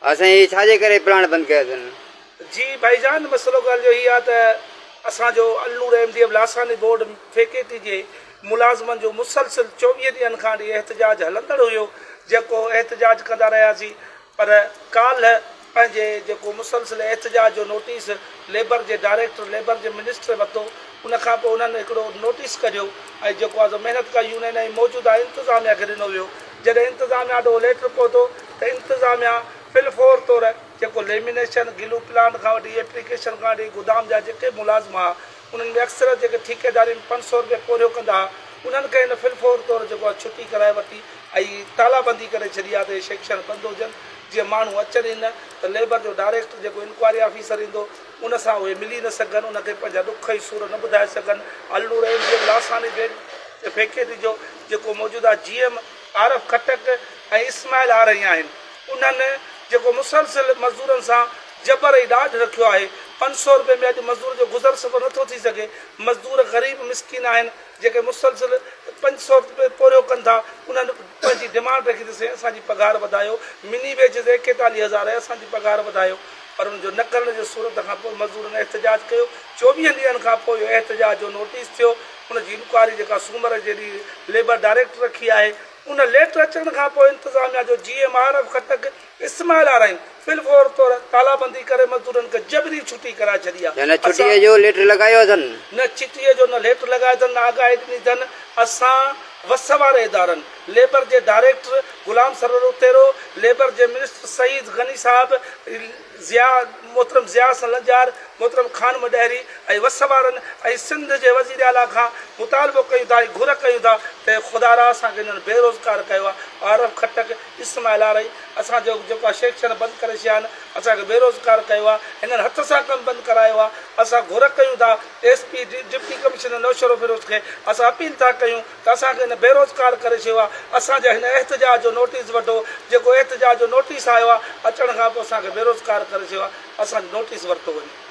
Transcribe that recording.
اسين هي ڇا جي ڪري پلاڻ بند ڪيو اٿن. جي ڀائي جان مسئلو ڳالهه جو هي آ ته اسان جو Al Noor M D F Lasani board factory جي ملازمن جو مسلسل چوويهه ڏينهن کان اڙي احتجاج هلندڙ هيو جيڪو احتجاج ڪندا رهياسين پر ڪالهه پنهنجي جيڪو مسلسل احتجاج جو نوٽيس ليبر جي ڊائريڪٽر ليبر جي منسٽري ورتو ان کان پوء انهن هڪڙو نوٽيس ڪڍيو ۽ جيڪو آهي سو محنت ڪار يونين ۽ موجوده انتظاميا کي ڏنو ويو جڏهن انتظاميا ڏانهن ليٽر پهتو ته انتظاميا في الفور طور جيڪو ليمينيشن گلو پلانٽ کان وٺي ايپليڪيشن کان وٺي گدام جا جيڪي ملازم ها انهن ۾ اڪثر جيڪي ٺيڪيداري ۾ پنج سؤ رپيا پورهيو ڪندا ها انهن کي هن في الفور طور جيڪو آهي ڇٽي ڪرائي ورتي ۽ تالا بندي ڪري ڇڏي آهي ته اهي سيڪشن بند هجن جيئن ماڻهو اچن ئي نه ته ليبر جو ڊائريڪٽر جيڪو انڪوائري آفيسر ايندو ان سان اهي ملي نه سگهن ان کي پنهنجا ڏک ۽ سور نه ٻڌائي سگهن Al Noor M G M Lasani factory جو جيڪو موجوده جي ايم عارف خٽڪ ۽ اسماعيل آرهي آهن انهن جيڪو مسلسل مزدورن سان جبر ۽ ڏاڍ رکيو آهي، پنج سؤ رپئي ۾ اڄ مزدور جو گذر سفر نه ٿو ٿي سگهي، مزدور غريب مسڪين آهن جيڪي مسلسل پنج سؤ رپئي پورهيو ڪن ٿا، انهن پنهنجي ڊمانڊ رکي ته سائين اسان جي پگهار وڌايو، مني ويجز ايڪيتاليهه هزار آهي اسان جي پگهار وڌايو، پر ان جو نه ڪرڻ جي صورت کان پوء مزدورن احتجاج ڪيو، چوويهن ڏينهن کان پوء اهو احتجاج جو نوٽيس ٿيو، ان جي انڪوائري جيڪا سومر جي ڏينهن ليبر ڊائريڪٽر رکي آهي، ان ليٽر اچڻ کان پوء انتظاميا جو G M R F Khattak Ismail Arain في الفور طور تالابندي ڪري مزدورن کي جبري ڇٽي ڪرائي ڇڏي آ. نه ڇٽيء جو ليٽر لڳايو اٿن. نه ڇٽيء جو نه ليٽر لڳايو اٿن نه آگاهي ڏني اٿن. اسان وس واري ادارن، ليبر جي ڊائريڪٽر غلام سرور اتيرو، ليبر جي منسٽر سعيد غني صاحب، ضياء محترم ضياء حسن لنجار، محترم خانمه ڏهري ۽ وس وارن ۽ سنڌ جي وزير اعليٰ کان مطالبو ڪيون ٿا ۽ گهر ڪيون ٿا ته خدارا اسان کي انهن بيروزگار ڪيو آ. عارف خٽڪ، اسم الاري اسان جو جيڪو آ شيڪشن بند ڪري ڇيا آھن اسان کي بيروزگار ڪيو آ ھنن ھٿ سان ڪم بند ڪرايو آ اسان گھر ڪيون ٿا S P deputy commissioner Naushahro Feroze کي اسان اپيل ٿا ڪيون ته اسان کي ھن بيروزگار ڪري ڇيو آ اسان جا ھن احتجاج جو نوٽيس وٺو جيڪو احتجاج جو نوٽيس آيو آ اچڻ کان پوء اسان کي بيروزگار ڪري ڇيو آ اسان جو نوٽيس ورتو وڃي.